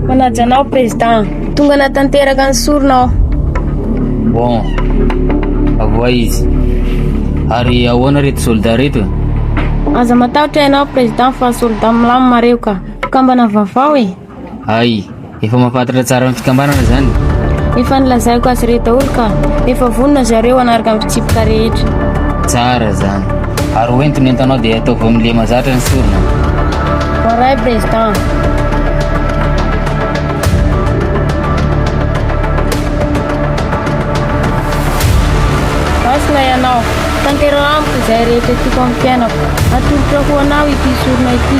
Manaja anao président. Tonga natanteraka ny sorona aho. Bon. Avoa izy. Ary ahoana reto soldat reto? Aza matahotra ianao président fa soldat milamina reo ka. Mpikambana vaovao e. Hay! Efa mahafantatra tsara ny fikambanana izany? Efa nilazaiko azy ireo daholo ka! Efa vonona ry zareo hanaraka ny fitsipika rehetra. Tsara izany! Ary ho ento ny entanao dia ataovy amin'ny lema zatra ny sorona. Voaray, Président! Tanteraho amiko izay rehetra tiako amin'ny fiainako. Atolotra ho anao ity sorona ity.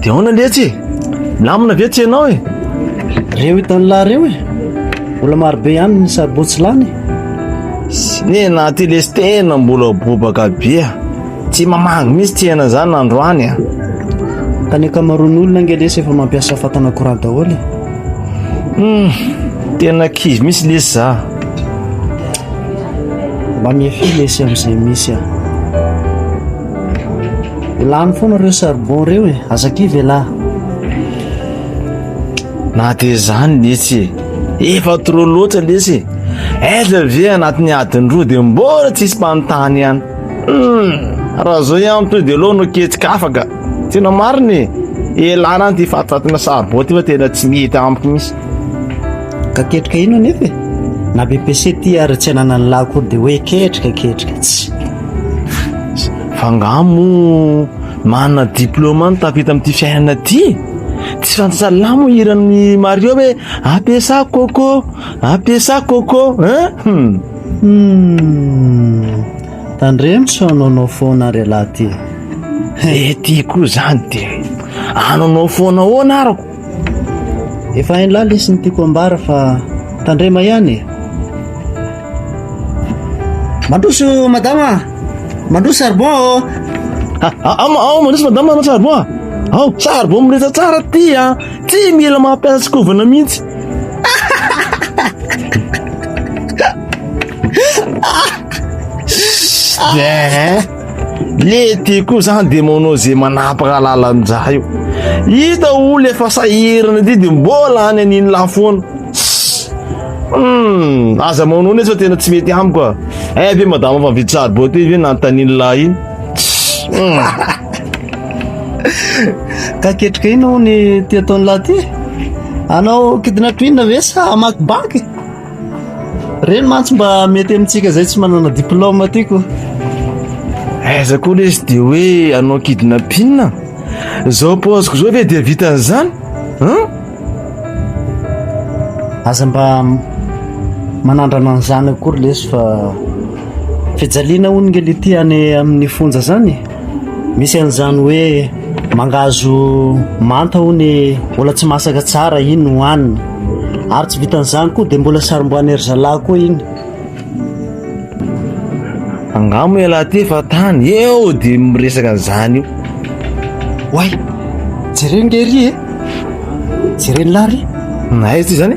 Dia ahoana letsy e? Milamina ve tsy ianao e? Reo hitan'ny lahy reo e. Mbola marobe ihany ny saribao tsy lany. Sinena ty lesy tena mbola bobaka be. Tsy mamangy mihitsy tsy hena zany androany a. Ka ny ankamaroan'ny olona ange lesy efa mampiasa fatana courant daholo e. Hmm, tena kivy mihitsy lesy za. Mba mihefy lesy amin'izay misy a. Lany foana ireo charbon ireo e, aza kivy elah. Na dia izany lesy e, efa trop loatra lesy e. Aiza ve anatin'ny adiny roa dia mbola tsisy mpanontany ihany. Hmm, raha izao ihany to dia aleo no ketsika afaka. Tena marina e, elah na ity fatifatina charbon ity fa tena tsy mety amiko mihitsy. Ka ketrika ino anefa e? Na BPC ty ary tsy ananan'ny lahy koa dia hoe ketrika ketrika tsy. Fa ngaha moa manana diplôme no tafita amin'ity fiainana ity? Tsy fantatrà lahy moa hiran'ny Mario hoe apesa coco, apesa coco hein? Hum. Tandremo tsy hanaonao foana ary ialahy ty. Ety koa zany dia hanaonao foana ahoana arako? Efa hainy lahy lesy ny tiako ambara fa tandrema ihany e. Mandroso madama, mandroso charbon ô. Ah, ah, ah, ah, mandroso madama, mandroso charbon ah. Ao, charbon mirehitra tsara ty ah. Tsy mila mampiasa tsikovana mihitsy. Ah! Lety koa zany de manao ze manapaka lalandraha io. Hita olo efa sahirana ity de mbola any an'iny lahy foana. Hmm, aza manao nefa tena tsy mety amiko ah. Eh ve madame fa vitsy sary bote ve nanontanian'ny lahy iny. Hmm. Ka ketrika ino ny ty ataon'ny lahy ty? Anao kidinatrinina ve sa hamaky banky? Ireny mantsy mba mety amintsika izay tsy manana diplôme tiako. Aiza koa le izy dia hoe anao kidnapping Izao paoziko izao ve dia vitan'izany an? Aza mba manandrana an'izany akory lesy fa fijaliana hono nge le ity any amin'ny fonja izany e. Misy an'izany hoe. Mangahazo manta hono e, mbola tsy masaka tsara iny hohanina. Ary tsy vitan'izany koa dia mbola sarombohan'i zalahy koa iny. Angano moa ialahy ty fa tany eo dia miresaka an'izany io. Oay, jereo nge ry e, jereo ny lahy ry. Aiza ty zany?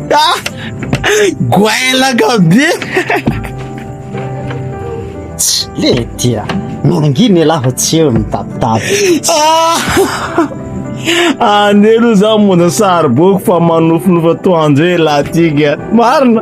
Ah! Goailaka be! Tsy le dia nangina ialahy fa tsy eo mitapitapy. Ah! Ane aloha za mona sariboko fa manofinofy atoandro hoe lahy tika. Marina!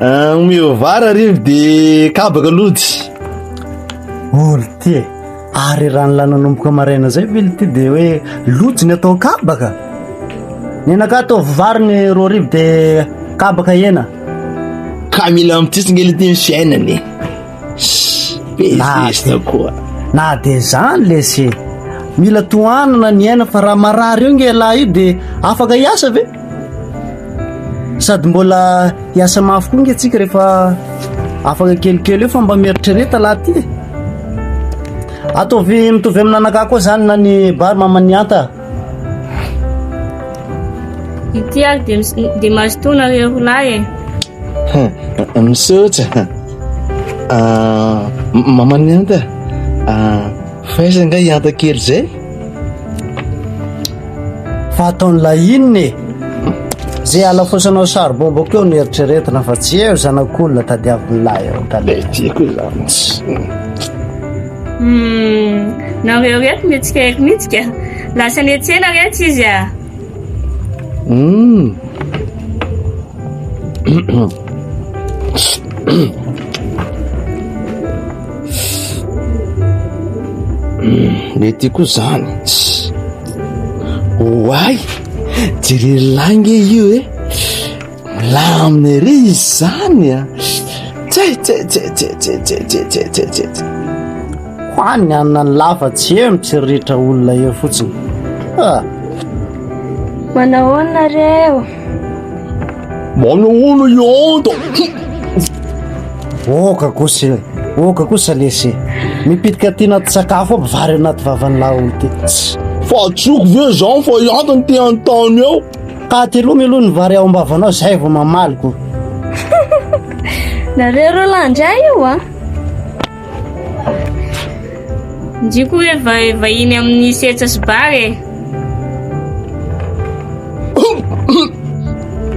Ah, omeo vary arivo dia kabaka lojy olo ty e ary raha ny lananomboka maraina zay ve ty dia hoe lojy ny atao kabaka ny anaka ataovy vary ny roa arivo dia kabaka hena ka mila mitsintsina kely ity ny fiainana e Bezesta koa. Na dia izany lesy e. Mila tohanana ny aina fa raha marary io nge lahy io dia afaka hiasa ve? Sady mbola hiasa mafy koa nge tsika rehefa afaka kelikely eo fa mba mieritrereta lahy ty. Ataovy mitovy amin'anakah koa zany na ny bar maman'ny anta. Ity ary dia, dia mazotoa nareo roa lahy e. Eh. Misaotra. Ah, maman'ny anta. Ah, faiza nga i anta kely zay? Fa ataon'ilay inona e? Zay alafosanao charbon boko eo ny eritreretina fa tsy eo zanak'olona tadiavin'ilay eo. Tadiavin'ilay. Tiako izany. Hum, nareo reto mihetsika ery mihitsy ka. Lasa nihetsena reto izy ah. Hum. Mety koa zany. Oay, jereny lahy nge io eh. Milamina ery izany a! Tsetsetset! Ho any hanina ny lava tsy eo mitsiriritra olona eo fotsiny. Ah! Manahoana nareo? Manahoana i Anta? Oka kosa e, oka kosa lesy e. Mipitika aty anaty sakafo aby vary anaty vavan'ny laolo ty. Tss! Fa tsy oko ve izany fa i Anta no te hanontany eo? Paty aloha mialoha ny vary ao am-bavanao zay vao mamaly ko. Nareo roa lahy ndray io a. Ah. Ndriko hoe va vahiny amin'ny setsa sy bar e.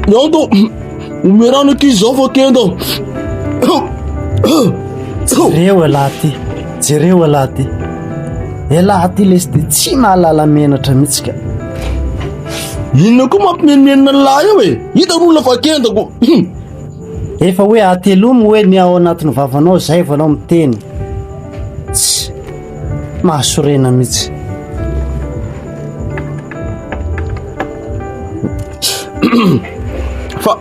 Nando, omerano aty izao fa kenda. Jereo elah ty, jereo elah ty. Elah ty lesy de tsy mahalala menatra mihitsy ka. Inona koa mampimenomenona ny lahy eo e? Hitan'ny olona fa kenda ko. Efa hoe atelomy hoe ny ao anatin'ny vavanao izay vao anao miteny. Tsy mahasorena mihitsy. Fa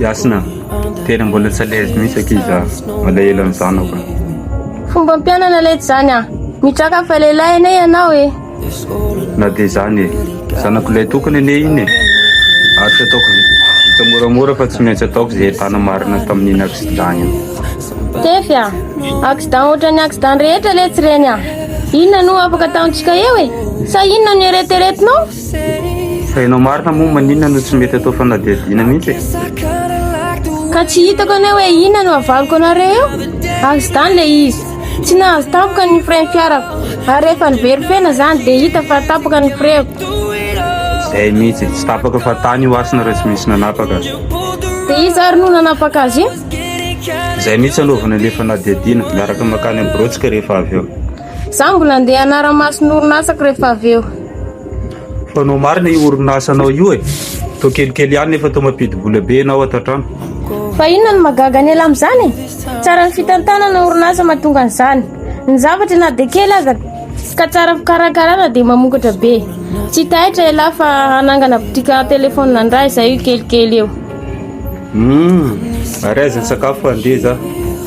Yasna, tena mbola tsy à l'aise mihitsy akia za, malahelo an'i zanako a. Fomba ampianana letsy zany a! Mitraka fa lehilahy anie ianao e! Na dia izany e! Zanako lahy tokana anie iny e! Ary tsy ataoko vita moramora fa tsy maintsy ataoko izay entana marina tamin'iny accident iny. Tefy a! Accident ohatran'ny accident rehetra letsy ireny a! Inona no ho afaka ataontsika eo e? Sa inona no eritreretinao? Fa ianao marina moa maninona no tsy mety atao fanadihadiana mihitsy e? Ka tsy hitako anie hoe inona no avaliko anareo eo? Accident ilay izy. Tsy nahazo tampoka ny frein fiarako ary rehefa nivery fena izany dia hita fa tapaka ny frein-ko. Izay mihitsy, tsy tapaka fa tany io hasina raha tsy misy nanapaka. Dia iza ary no nanapaka azy io? Izay mihitsy anaovana ilay fanadihadiana, miaraka mankany amin'ny biraontsika rehefa avy eo. Za mbola ndeha hanara-maso ny orinasako rehefa avy eo. Fanao marina io orinasanao io e! Toa kelikely ihany nefa toa mampidi-bola be ianao ato an-trano. Fa inona no mahagaga ny ela amin'izany e? Tsara ny fitantanana orinasa mahatonga an'izany. Ny zavatra na dia kely aza ka tsara fikarakarana dia mamokatra be. Tsy taitra ialahy fa hanangana botika telefaonina indray izahay io kelikely eo. Humm! Ary aiza ny sakafo fa handeha za.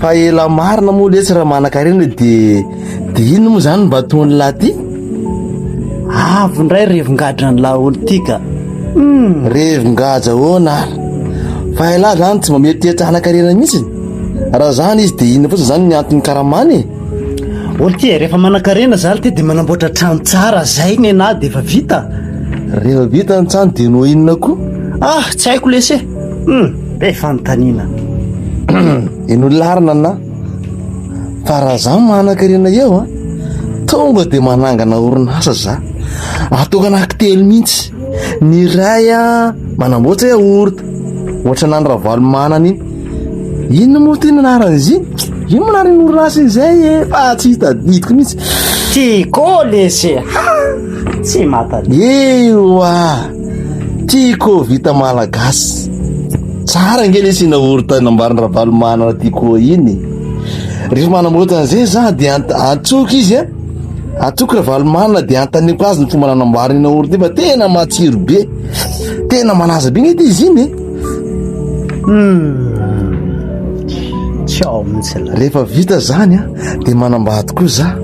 Fa ela marina moa letsy raha manankarena de de ino moa zany mba ataony lahy ty? Avy ndray revin-gadra ny laolo ty ka. Hmm. Revin-gadra ahoana ary? Fa ela zany tsy mba mety hetsy hanankarena mihitsy. Raha zany izy de ino fotsiny zany ny antony karamany e? Olo ty e, rehefa manankarena zany ty de manamboatra trano tsara zay nenahy de efa vita. Rehefa vita ny trano de no inona koa? Ah, tsy haiko lesy e. Hum! Be fanontaniana. Eno larina na fa raha za manan-karena eo a tonga de manangana orinasa za atao anaky telo mihitsy ny iray a manamboatra yaourt ohatranan'i Ravalomanana iny inona moa ty ny anaran'izy iny ino moa anaran'iny orinasa iny zay e fa tsy hitadidiko mihitsy Tico Lese. Ha! Tsy mahatadidy. ewa Tiko vita malagasy. Tsara ange lesy ina orita nambarin'ny Ravalomanana Tiko iny. Rehefa manamboatra an'izay za dia ant- antsoko izy a. Antsoko Ravalomanana dia antaniko azy ny fomba nanamboarany ina orita iny fa tena matsiro be. Tena malaza be nety izy iny. Ciao mihitsy la. Rehefa vita zany a dia manambady koa za.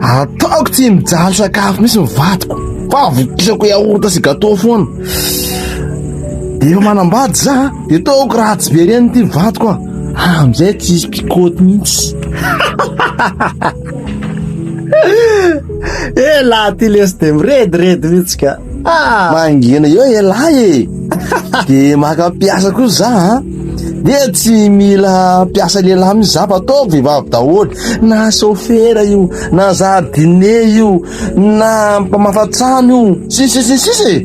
Ataoko tsy mijaly sakafo mihitsy ny vadiko. Fa avokisako yaourt sy gateau foana. Efa manambady za, de taoko ratsy be reny ty vadiko a. Amizay tsy hisy mpikôty mihitsy. Elah ty lesy de mirediredy mihitsy ka. Ah! Mangina eo elah e. De maka mpiasa koa za a. De tsy mila mpiasa lehilahy mihitsy za fa ataoko vehivavy daholo. Na sôfera io, na zardine io, Na mpamafatrano io sisa sy ny sisa e.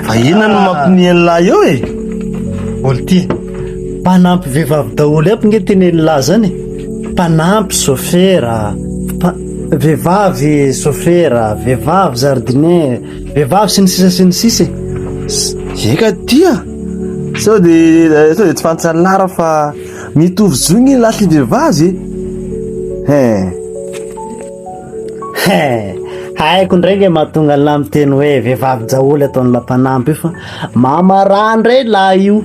Fa inona no mampiniha ny lahy eo e? Olty, mpanampy vehivavy daholo aby nge teny ny lahy zany. Mpanampy sofera, mpa- vehivavy sofera, vehivavy jardinier, vehivavy sy ny sisa sy ny sisa e. Eka tia, sao de sao de tsy fantsan'ny lahy raha fa Mitovy zo ny lahy sy vehivavy e! Hein! Hein! Haiko ndray nge mahatonga ny lahy miteny hoe vehivavy jaoly ataon'ny lahy mpanampy io fa mamarà ndray lahy io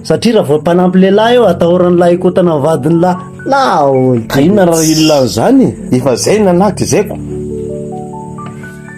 satria raha vao mpanampy lehilahy eo atahoran'ny lahy hikotana amin'ny vadin'ny lahy. Nahoana? Ka inona raha illan'izany e? Efa zay nanahy tezeko.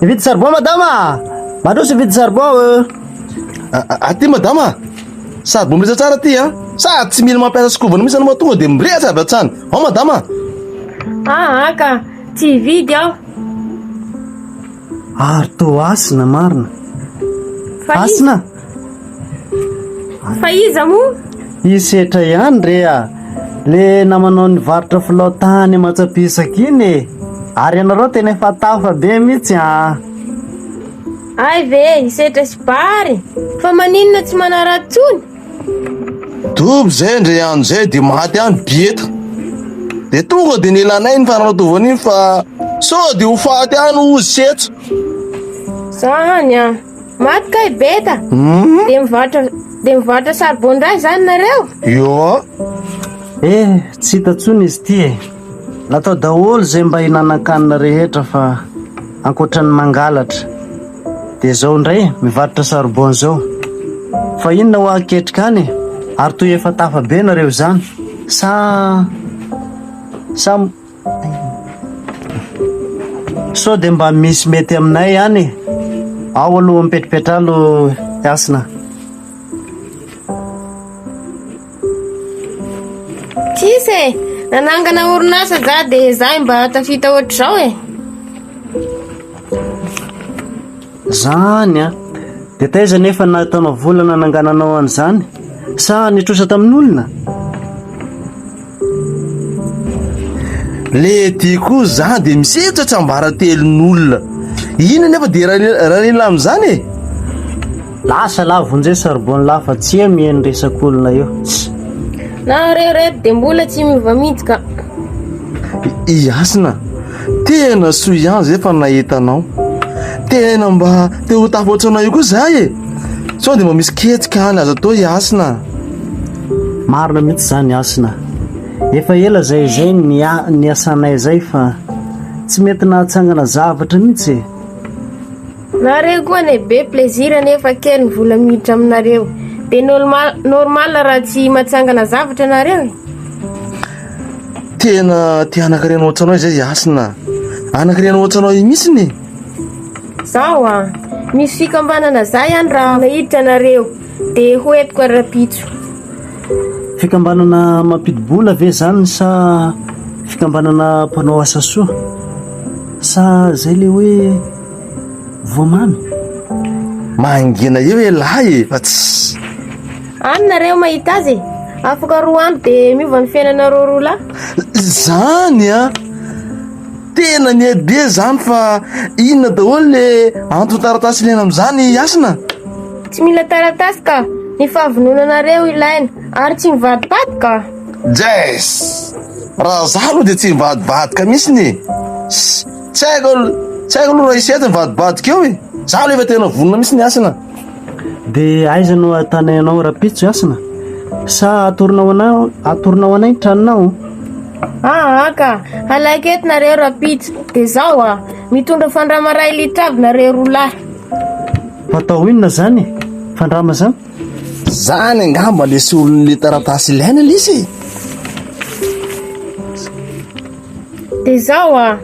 Mividy charbon madama ah. Mandroso mividy charbon euh. Aty madama ah. Charbon mirehitra tsara aty ah. Sa tsy mila mampiasa skovana mihitsy anao tonga dia mirehitra avy hatrany. Ao madama ah. Ah ka tsy hividy aho. Ary toa hasina marina. Hasina? Fa iza moa? I Setra ihany re a! Le namanao nivarotra filao tany Amantsapesaka iny e! Ary ianareo tena efa tafa be mihitsy an! Hay ve i Setra sy Bary fa maninona tsy manaratsy tsony? Dobo zay ndre andro zay de maty any bieta de tonga de nelanay ny fanatovan iny fa sao de ho faty any ozy tsy eto za hany an maty kay beta hmm? de mivarotra de mivarotra sarbon ndray zany nareo io eh tsy hita tsony izy ty e Natao daholo izay mba hinanan-kanina rehetra fa ankoatra ny mangalatra dia izao indray mivarotra saribao izao. Fa inona hoa aketrika any e? Ary toy efa tafa be nareo izany sa sa sao dia mba misy mety aminay any e? Ao aloha mipetrapetra alo Hasina. Tsisy e! Nanangana orinasa za dia zahy mba tafita ohatr'izao e! Zany an! Dia taiza nefa nahitaonao vola nanangananao an'izany? Sa nitrosa tamin'olona? Le dia koa za dia misedra tsiambaratelon'olona! Iny anefa dia ralila amin'izany e! Lasa la vonjeo charbon la fa tsy eo miheno resak'olona eo. Na reo reto de mbola tsy miova mintsy ka. I Hasina, tena soa ihany zay fa nahita anao. Tena mba te ho tafa ohatranao io koa zah e. Sao de mba misy ketsika any azo atao i Hasina a. Marina mihitsy zany Hasina. Efa ela zay zay niasanay zay fa tsy mety nahatsangana zavatra mihitsy e. Nareo koa anie be plaisir nefa kely ny vola miditra aminareo. Dia normal, normal raha tsy matsangana zavatra nareo e. Tena te hanankarena ohatranao izay i Hasina. Hanankarena ohatranao io mihitsiny e. Zaho a! Misy fikambanana za ihany raha nahiditra anareo dia ho entiko ary rapitso. Fikambanana mampidi-bola ve izany sa fikambanana mpanao asa soa? Sa izay ilay hoe. voa mamy mahangina eo elah e fa tsy any nareo mahita azy e afaka roa andro dia miova ny fiainanareo roa lahy izany a tena ny be zany fa inona daholo le anton-taratasy ilaina amin'izany hasina tsy mila taratasy ka ny fahavononanareo ilaina ary tsy mivadibady ka jess raha za aloha dia tsy mivadibadika mihitsy ny e Tsy haiko al- tsy haiko aloha raha hisy hety mivadibadika eo e. Za aloha efa tena vonona mihitsy ny hasina. Dia aiza no ahitanay anao rahampitso i Hasina? Sa atoronao anay, atoronao anay ny tranonao? Aa ka! Halaka eto nareo rahampitso. Dia zao a! Mitondra fandrama iray litre avy nareo roa lahy. Hatao inona izany e? Fandrama izany? Zany angamba le solon'le taratasy ilaina lesy e. Dia zao a!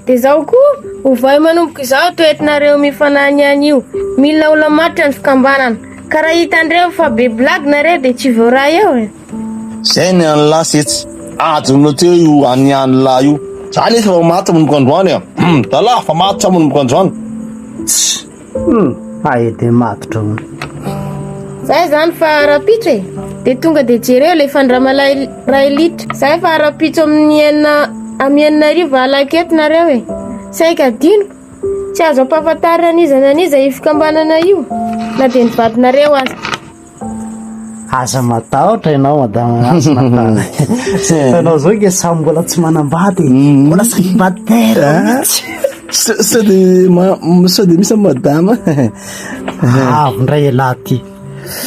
Dia zao koa, ovay manomboka izao to entinareo mifanahy ny anio. Mila olona matotra ny fikambanana. Ka raha hitan-dreo fa be blague nareo dia tsy voaray eo e! Zay ny an'lah setsy adinonao teo io an'i an'lah io. Za nefa efa maty manomboka androany a! Hum! Zalah fa matotra manomboka androany. Tss! Hum, ae de matotra hono. Zay zany fa rapitso e. De tonga de jereo le fandramalahy ray litra. Zay fa rapitso amin'ny enina amin'ny enina arivo alako eto nareo e. Saika adinoko. Tsy azo ampahafantarina an'iza na an'iza io fikambanana io na de ny vadinareo aza. Aza matahotra ianao madama Hasina fa izay ataonao izao ange samy mbola tsy manambady e. Mm. Mbola célibataire ah. mihitsy. Sa- Sao dia ma- m- sao dia misy amin'ny madama Avy ndray ialahy ty.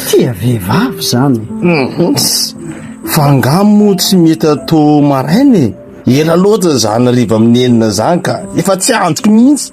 Tia vehivavy izany. Mhm. Fa angaha moa tsy mety atao maraina e Ela loatra izany hariva amin'ny enina izany ka Efa tsy andriko mihitsy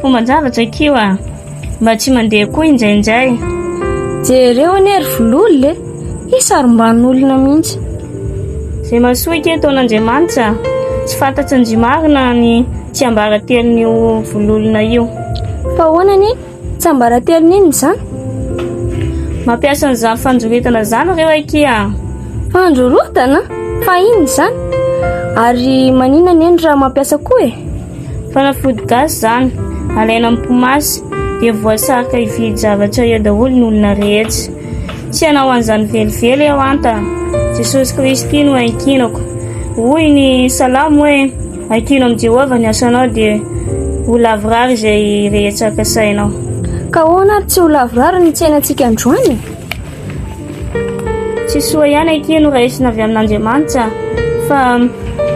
Fomban-javatra kio a! Mba tsy mandeha koa injainjay. Jereo anie ry Vololona e! He sarom-ban'olona mihitsy. Izay masoiky eto an'Andriamanitra a! Tsy fantatry ndry marina ny tsiambaratelon'io Vololona io. Fa ahoana anie tsiambaratelony inona izany? Mampiasa an'izany fandroritana izany ireo akia a! Fandrorotana? Fa inona izany? Ary maninona anie no raha mampiasa koa e? Fanafody gasy izany, alaina amin'ny po masy dia voasarika hividy zavatra eo daholo ny olona rehetra. Tsy hanao an'izany velively aho an! Ka Jesosy Kristy no iankinako. Hoy ny Salamo hoe, Ankino amin'i Jehovah ny asanao dia ho lavorary izay rehetra kasainao. Ka ahoana ary tsy ho lavorary ny tsainantsika androany? Tsy soa ihany akia no raisina avy amin'Andriamanitra fa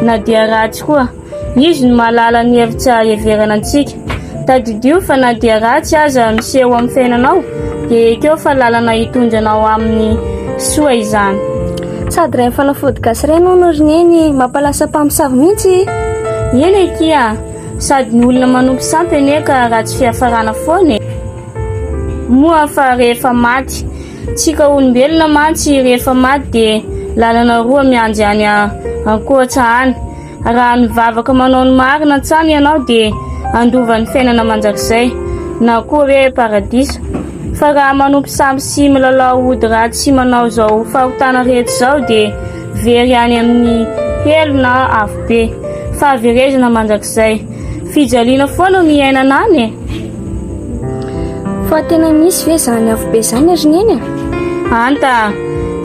na dia ratsy koa. Izy no mahalala ny hevitsy ahaheverana antsika. Tadidio fa na dia ratsy aza miseho eo amin'ny fiainanao, dia ekeo fa lalana hitondra anao amin'ny soa izany. Sady reny fanafody gasy reny hono ry neny, mampalasa mpamosavy mihitsy e! Eny akia, sady ny olona manompo sampy anie ka ratsy fiafarana foana e! Moa fa rehefa maty. Tsika olombelona mantsy rehefa maty dia lalana roa mianjy any ankoatsa any. Raha mivavaka manao ny marina an-tsaha ianao dia handova ny fiainana mandrakizay na koa hoe paradiso. Fa raha manompo sampy sy milalao ody ratsy sy manao izao fahotana rehetra izao dia very any amin'ny helo na afobe. Fahaverezana mandrakizay. Fijaliana foana no iainana any e! Fa tena misy ve izany afobe izany ry Neny a? Anta,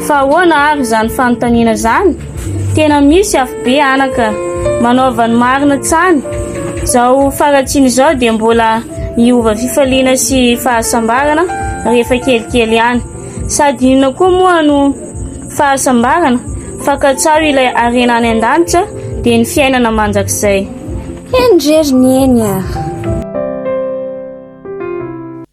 fa ahoana ary izany fanontaniana izany? Tena misy afobe anaka manaova ny marina hatrany. Izao faratsiana izao dia mbola miova fifaliana sy fahasambarana rehefa kelikely ihany. Sady inona koa moa no fahasambarana fa katsaho ilay harena any an-danitra dia ny fiainana mandrakizay. Henorery ny eny a!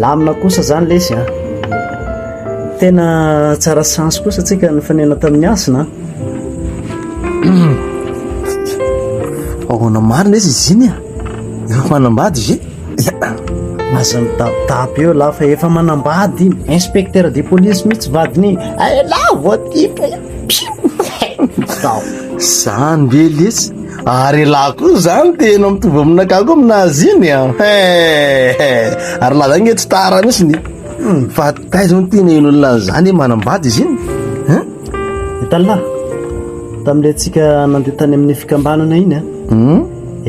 Lamina kosa izany lesy a! Tena tsara chance kosa tsika nifanena tamin'ny hasina a! Ahoana marina lesy izy iny a! Efa manambady izy e! Aza mitapitapy eo lahy fa efa manambady iny! Inspecteur de police mihitsy vadiny iny! Hay lahy voatifitra io! Piou! Izany ve lesy! Ary elah koa izany tena mitovy aminakah koa aminazy iny an. Ah. Eh, ary laza nge tsy tara mihitsy ny hmm, fa taiza no tena ino olona an'izany manambady izy iny. Eh? Itallah, tamin'ilay antsika nandeha tany amin'ny fikambanana iny an. Ah. Hmm?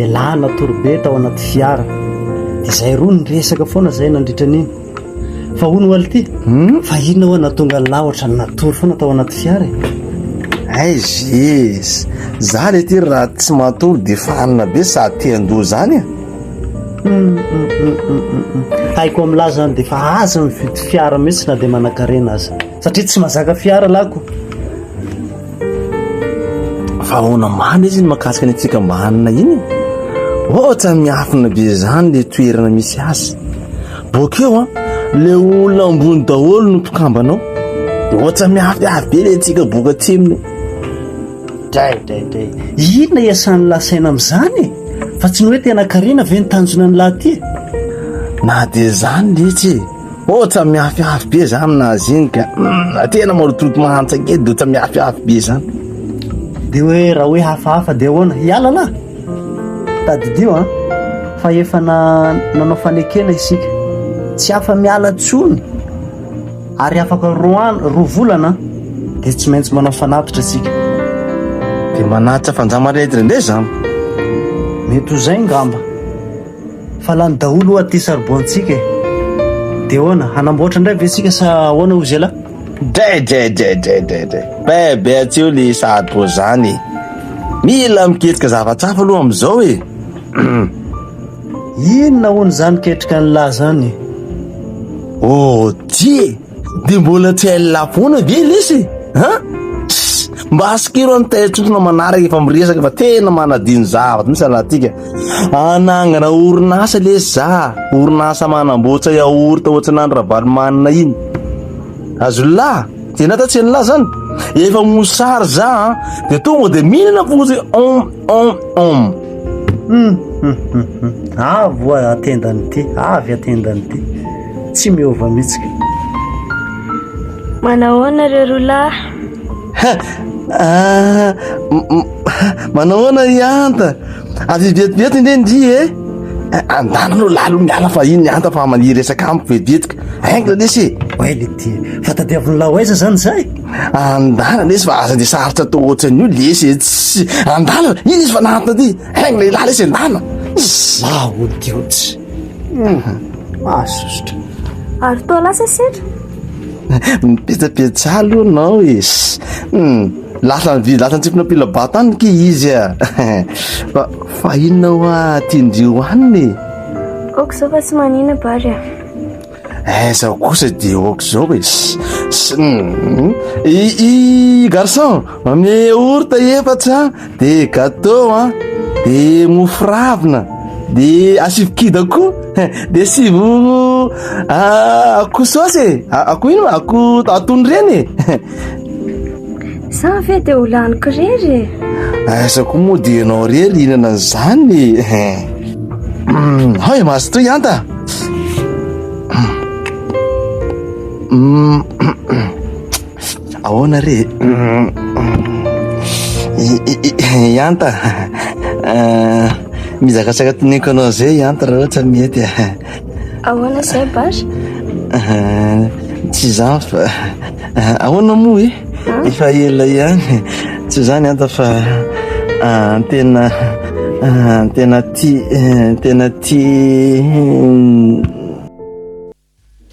Elah natorobe tao anaty fiara. Izay roa ny resaka foana izay nandritra an'iny. Fa hono hoaly ty, fa inona hoa nahatonga an'lah ohatrany natory foana tao anaty fiara e? Aiz iiz, za le ty raha tsy matory de fanina be sady te handoa zany e. Haiko amin'lah zany de fa aza mividy fiara mihitsy na de manakarena aza, satria tsy mahazaka fiara lah ko. Fa ahoana man izy ny mahakasika ny fikambanana iny e? Ohatrany miafina be zany le toerana misy azy. Bokeo an, le olona ambony daholo no mpikambana ao. Dia ohatsa miaviavy be le tsika boka atsimony. Dray, dray, dray. Inona iasan'ny lahy saina amin'izany e? Fa tsy ny hoe tena karena ve ny tanjona ny lahy ty? Na dia izany letsy e. Ohatsa miaviavy be za aminazy iny ka. Hmm, tena marototo mahantsake dia ohatsa miaviavy be izany. Dia hoe raha hoe hafahafa dia ahoana? Hiala lahy? Tadidio an! fa efa nanao fanekena isika, tsy afa-miala intsony ary afaka roa andro, roa volana dia tsy maintsy manao fanatitra isika. Dia manatitra fandramaretina indray izany? Mety ho izay angamba, fa lany daholo oa ity saribao antsika e! Dia ahoana, hanamboatra indray ve isika sa ahoana hoy zila? Dray dray dray dray dray dray. Be be atseo le sahady toa zany e. Mila miketrika zavatra hafa aloha amizao e. Inona hono zany ketrika ny lahy zany? Oh tie, de mbola tsy hay la foana ve lesy? Ha? Mba asikero any taitsofina manaraka efa miresaka fa tena manadino zavatra mihitsy alatika. Hanangana orinasa lesy za, orinasa manamboatra yaourt ohatranan'i Ravalomanana iny. Azonlah? Dia na tatsy anlah zany. Efa mosary za an. Dia tonga dia mihinana fotsy om om om. Hum, hum, hum, hum. Avo atendany ty, avy atendany ty. Tsy miova mihitsy. Manao ahoana reo roa lahy? Manao ahoana i Anta? Avy vetivety nge ndry e! Andana aloha lalo miala fa iny Anta fa maniry resaka amiko vetivetika. Ainga lesy e! Oay le ty, fa tadiavin'lah ho aiza zany zay? Andana lesy fa aza dia sarotra atao ohatran'io lesy e! Tsy andana, iny izy fa nahantona ty. Ainga lehilahy lesy andana! Izaho ody ody. Mahasosotra. Ary toa lasa sedra? Mipetsapetra aloha nao e. Lasa ny lasa antsipina pila bato any ke izy a. Fa fa inona hoa tian-dry io hanina e? Aoka izao fa tsy manina bary a. Eh, zaho kosa dia ohatr'izao e i i garçon ame orta efatra de gâteau a de mofo ravina de asivo kida koa de asivo akoho saosy e akoho ino ma akoho atono reny e Sa ve dia ho laniko rery e? Aiza koa moa dia ianao rery hihinana an'izany e? Hao e maso toy anta! Ahoana re? Ianta, mizakazaka teneniko anao izay Ianta raha ohatra mety e. Ahoana izay Bach? Tsy izany fa ahoana moa e? Efa ela ihany. Tsy izany anta fa tena tena tia tena tia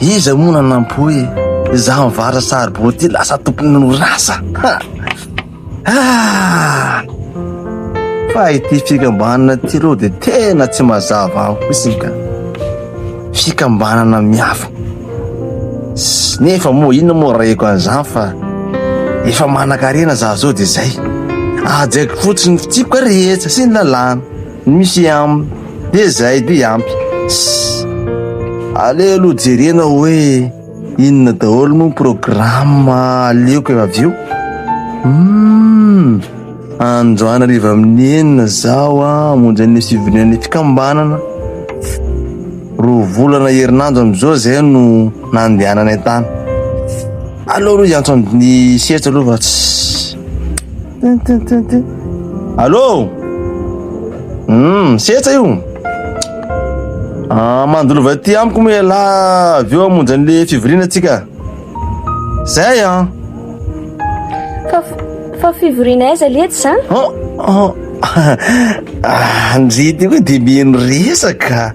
Iza moa nanampo hoe izaho mivara saribao ity lasa tompon'orinasa? Ah! Fa ity fikambanana ity aloha dia tena tsy mazava amiko mihitsy ka. Fikambanana miafina. Nefa moa inona moa reko an'izany fa efa manan-karena izaho izao dia izay. Hajaiko fotsiny ny fitsipika rehetra sy ny lalàna. Misy am de zay de ampy ss aleo aloha jerena hoe inona daholo moa programme aleoko efa avy eo hum andro anariva amin'ny enina zaho a hamonjy an'le souvenir ny fikambanana roa volana herinandro am'izao zay no nandehananay tany aleo aloha hiantso an'ny sehatra aloha fa ss Allô Hum, setsa io ah, Mandolova aty amiko moa ialahy Avy eo hamonjy an'ilay fivoriana atsika Zay an ah. Fa, fa fivoriana aiza letsy zany? Oh, oh. Ah, ndry ty koa dia mieno resaka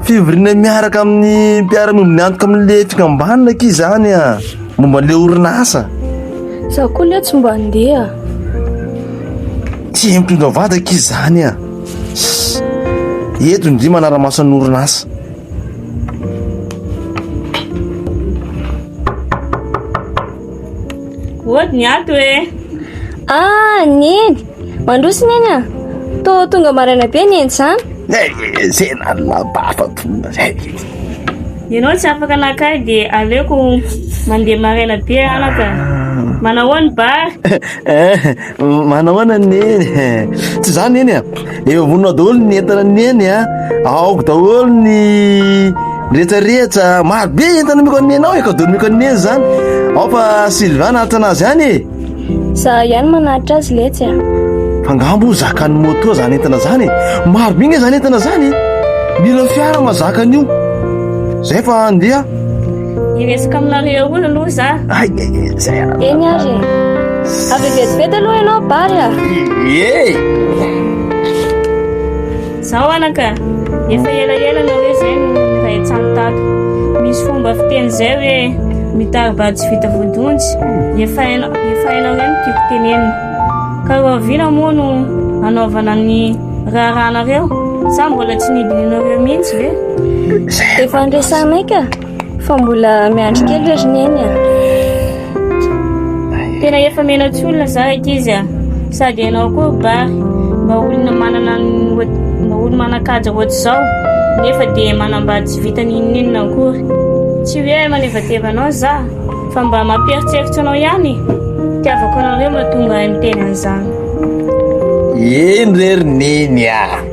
Fivoriana miaraka amin'ny mpiara-miombona miantoka amin'ilay fikambanana akia izany e, momba an'ilay orinasa. Izaho koa anie tsy mba handeha. Tsy hay mitondra vady akia izany e. Eto indry manara-maso an'ny orinasa. Hody ny ato e. Ah, Neny. Mandroso neny a! Tô tonga maraina be neny zan! Zena labafa tonga zay! Ianao tsy afaka naka ahy de aleoko mandeha maraina be anaka a! Manahoana ny bary? Eh! Manahoana ny neny e! Tsy izany neny a! Efa vonona daholo ny entana neny a! Aoka daholo ny rehetrarehetra, maro be entana omeko an'i neny ao e! Kaodo nomeko an'i neny zany ao fa Sylvain naharitra anazy any e! Za ihany manaritra azy letsy a. Angamba ho zakan'ny moto zany entana zany e. Maro be nge zany entana zany e. Mila fiara mazaka an'io. Zay fa andeha. Hiresaka aminareo olo aloha za. Ay, ay, ay, zay ara. Eny ary. Avy vetivety aloha ianao bary a. Ye. Zao anaka, efa ela ela na hoe zay no nirahetsano tato. Misy fomba fiteny zay hoe mitari-bary tsy vita vodonjy, efa hainao efa hainao reny ny tiako tenenina. Ka rahoviana moa no hanaovana ny raharahanareo? Sa mbola tsy nidinihinareo mihitsy ve? Efa andresanay ka! Fa mbola miandry kely ve ry Neny a? Tena efa melatsiolona za ankizy a! Sady ianao koa ry Bary mba olona manana ny oha- mba olona manan-kaja ohatr'izao nefa dia manambady tsy vita n'inon'inona akory. Tsy hoe manevateva anao za fa mba mampieritseritsy anao ihany e! Itiavako anareo mahatonga ahy miteny an'izany. Eny re ry Neny a!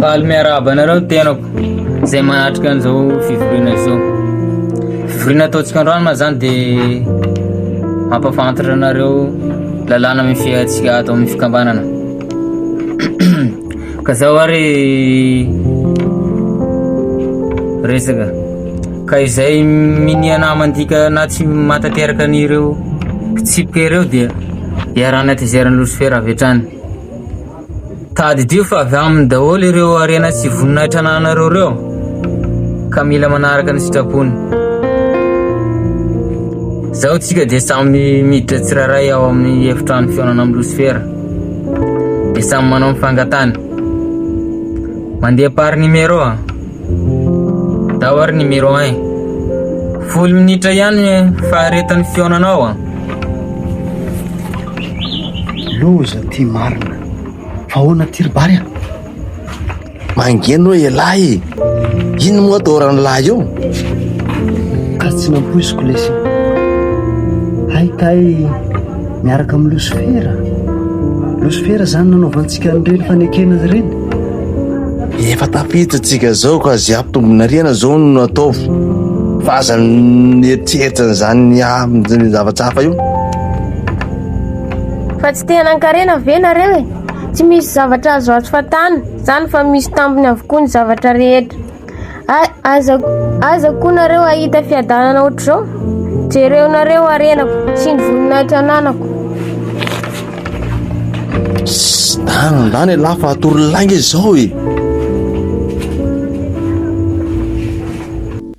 Faly miarahaba anareo ny tenako izay manatrika an'izao fivoriana izao. Fivoriana ataontsika androany ma zany dia mampafantatra anareo lalàna misy antsika ato amin'ny fikambanana. Ka zao ary resaka ka izay minia namantika na tsy matateraka an'ireo fitsipika ireo dia iarana tezerany losifera avy hatrany tadidio fa avy aminy daholo ireo arena sy voninahitra ananareo ireo ka mila manaraka ny sitrapony zao tsika dia samy miditra tsirairay ao amin'ny efitrano fihaonana amin'ny losifera De samy manao ny fangatany. Mandeha par numéro a. Tao ary numéro 1. Folo minitra ihany faharetan'ny fihaonanao a. Loza ty marina. Fa ahoana ty ry Bary a? Mangeny hoe elah e! Ino moa doran'ny lahy eo? Ka tsy nampoiziko lesy. Hay kay miaraka amin'ny losifera. Losifera izany nanaovantsika an'ireny fanekena ireny. Efa tafiditrantsika izao ka izay hampitombonariana izao no ataovy. Fa aza mieritreritra an'izany amin'ny zava-tsafa io. Fa tsy te hanan-karena ve nareo e? Tsy misy zavatra azo azo fatana zany fa misy tambiny avokoa ny zavatra rehetra. Aza aza koa nareo ahita fiadanana ohatr'izao. Jereo nareo arenako sy ny voninahitra ananako. Zany ndany elah fa atory lainga izao e.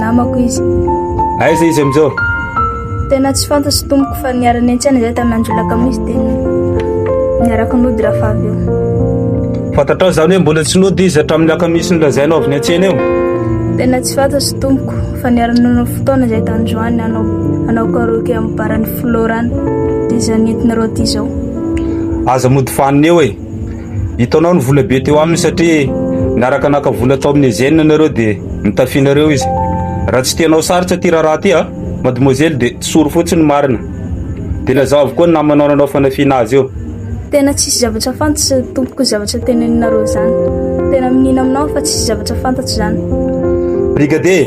namako izy. Aiza izy amin'izao? Tena tsy fantatro tompoko fa niarany an-tsena izay tamin'ny andro lakamisy dia niaraka nody rafa avy eo. Fantatrao izany hoe mbola tsy nody izy hatramin'ny lakamisy nolazainao avy ny an-tsena eo? Tena tsy fantatro tompoko fa niarany nanao fotoana izay tany joany hanao hanao karaoke amin'ny baran'ny Florana dia izany entinareo aty izao. Aza mody fanina eo e! Hitanao ny vola be teo aminy satria niaraka naka vola tao amin'ny Eugène ianareo dia nitafianareo izy. Raha tsy tianao sarotra ity raharaha ity an, mademoiselle dia tsoro fotsiny ny marina. Dia lazao avokoa ny namanao nanao fanafiana azy eo. Tena tsisy zavatra fantatro tompoko zavatra teneninareo zany. Tena miniana aminao fa tsisy zavatra fantatro zany. Brigadier!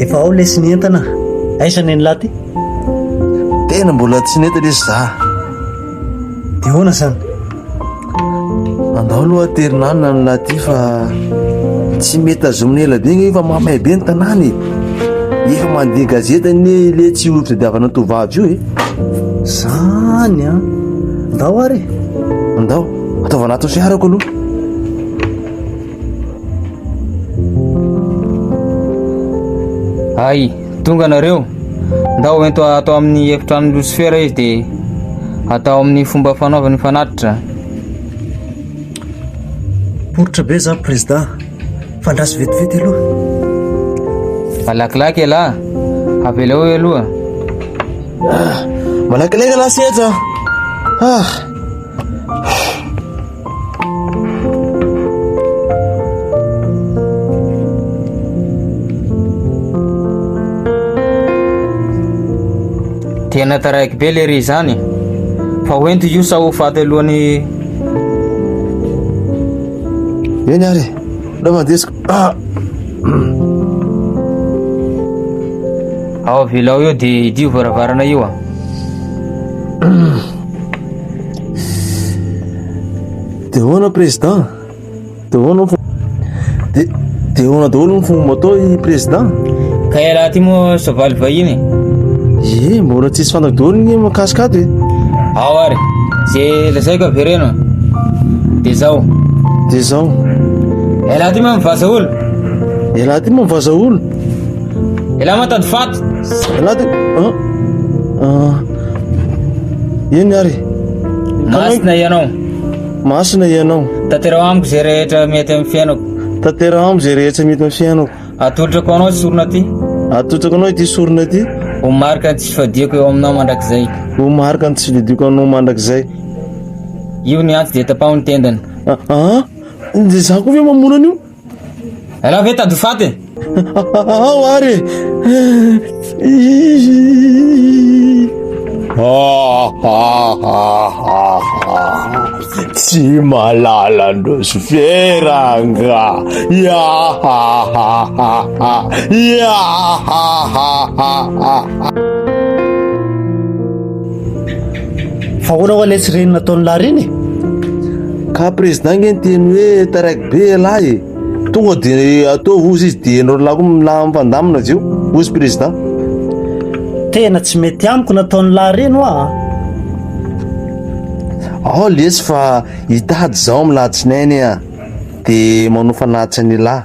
Efa ao lesy ny entana. Aiza ny an'lah ty? Tena mbola tsy nety lesy za. Dia hoana zany? Andao aloha terinanina ny lahy ty fa tsy mety tazomina ela be nge fa mamay be ny tanàna e. Efa mandeha gazety anie le tsy ho fitadiavana tovovavy io e. Zany an! Ndao ary e! Ndao, ataovy anaty ny fiarako aloha. Hay, tonga nareo. Ndao ento atao amin'ny efitrano Lucifer izy dia atao amin'ny fomba fanaovany fanatitra. Poritra be za président. Fandraso vetivety aloha. Malakilaky ialahy, avelao eo aloha. Ah, malakilaky ialahy sy eto an. Ah. Tena taraiky be lery izany fa hoento io sa ho faty alohan'ny Eny ary e, ndao mandesiko. Ah! Ao avelao eo dia hidio varavarana io a. Dia hoana président? Dia hoana Dia ahoana daholo ny fomba atao i Président? Ka ialahy ty moa soavaly vahiny e! Ie, mbola tsisy fantako daholo ny mikasika ato e! Ao ary, ze lazaiko avereno de zao. De zao. Ialahy ty moa mivaza olo. Ialahy ty moa mivaza olo. Ialahy moa tady faty. Ialahy ty. Ah. Ah. Eny ary. Masina ianao. Masina Ianao. Tanteraho amiko izay rehetra mety amin'ny fiainako. Tanteraho amiko izay rehetra mety amin'ny fiainako. Atolotrako ho Anao ity sorona ity. Atolotrako Anao ity sorona ity. Ho marika ny tsy fifadiako eo Aminao mandrakizay. Ho marika ny tsy fifadiako Anao mandrakizay. Io ny antsy dia tapaho ny tendany. Aa! Dia izaho koa ve mamono an'io? Raha ve tandroy faty e? Ao ary Tsy malala ndrozy vera nga Fa ahoana hoa ilay tsy reny nataon'i Larine e? Ka président nge niteny hoe taraiky Be elah e! Tonga de ataovy ozy izy de enao lahy koa milaha mipandamina avy eo, ozy président. Tena tsy mety amiko nataony lahy reny hoa a! Ao lesy fa hitady zaho am latsinainy a! de manofa latsa ny lahy.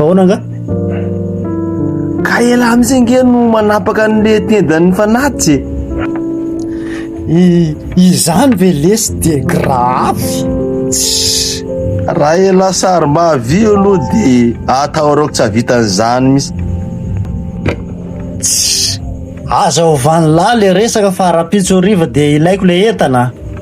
Ahoana angaha? Ka elah amin'izay ange no manapaka an'le tendan'ny fanatitsy e! Izany ve lesy dia gravy? Tssy! Raha elah sarim-bavy io aloha dia atahoraoko tsy hahavitan'izany mihitsy. Tssy! Aza ovà an'lah le resaka fa rahampitso hariva dia ilaiko le entana.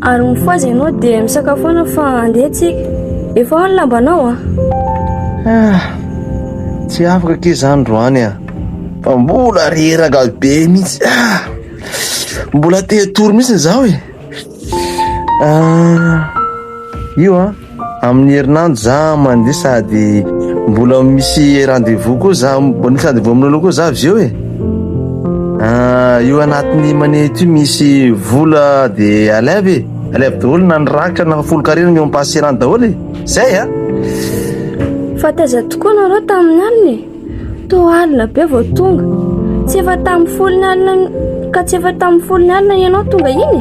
Ary mifohaza ianao dia misakafoana fa handeha tsika. Efa ao ny lambanao an! Ah! Tsy afaka akia za androany an! Fa mbola reraka be mihitsy ah! Mbola te hatory mihitsy izaho e! Ah! Io an! Amin'ny herinandro za mandeha sady mbola misy rendez-vous koa za, mbola misy rendez-vous aminao loha koa za avy eo e. Io anatin'ny manette io misy vola de alev e, alev daholo na ny raka na folokarena ny eo am-passerany daholo e, zay a. Fa taiza tokoa nareo tamin'ny alina e? Toa alina be vao tonga. Tsy efa tamin'ny folony alina ka tsy efa tamin'ny folony alina ianao tonga iny?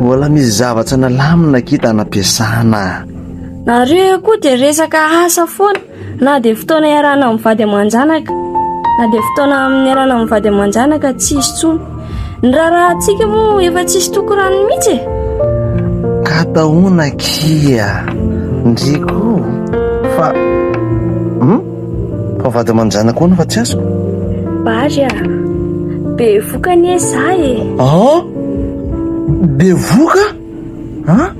Mbola misy zavatra nalamina kita nampiasana. Nareo koa dia resaka asa foana na dia fotoana iarahana mivady aman-janaka na dia fotoana amin'ny iarahana mivady aman-janaka tsy hisy intsony. Ny raharahantsika moa efa tsisy toko rano mihitsy e! Ka taona kia ndriko fa hum fa vady aman-janako hono fa tsy azoko. Bary a! Bevoka anie za e! An! Bevoka? An?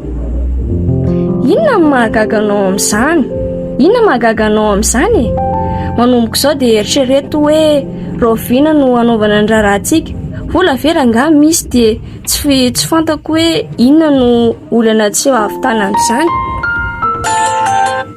Inona no mahagaga anao amin'izany? Inona no mahagaga anao amin'izany e? Manomboka izao dia eritrereto hoe rahoviana no hanaovana ny raharahantsika. Vola ve rangahy misy dia tsy tsy fantako hoe inona no olana tsy ho ahavitana amin'izany.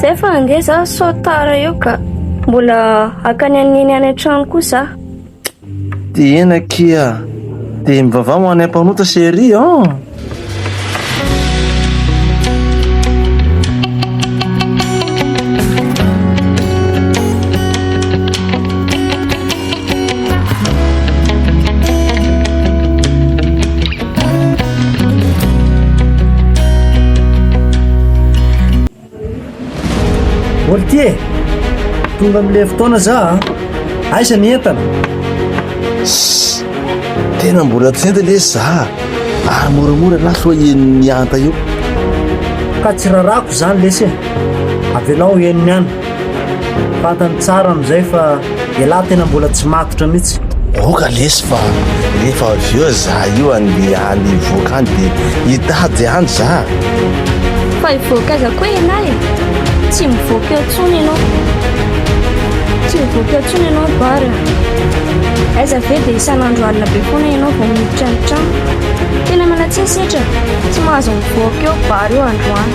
Zay fa ange za sao tara eo ka. Mbola hakany an'i Neny any an-trano koa za. Tena kia. Dia mivavaha ho anay mpanota chérie an! Oltie, tonga amin'ilay fotoana za a. Aiza ny entana? Shh, tena mbola tsy enta lesy za ary moramora lahy soa henon'ny hanta eo. Ka tsy rarako izany lesy e. Avelao henony any. Fantany tsara amin'izay fa ialahy tena mbola tsy matotra mihitsy. Oka lesy fa rehefa avy eo za io andeha any hivoaka any dia hitady any za. Fa hivoaka aiza koa ialahy e? Tsy mivoaka eo intsony ianao. Tsy mivoaka eo intsony ianao Bary a. Aiza ve dia isan'andro alina be foana ianao vao miditra ny trano. Tena miala tsiny setra, tsy mahazo mivoaka eo Bary io androany.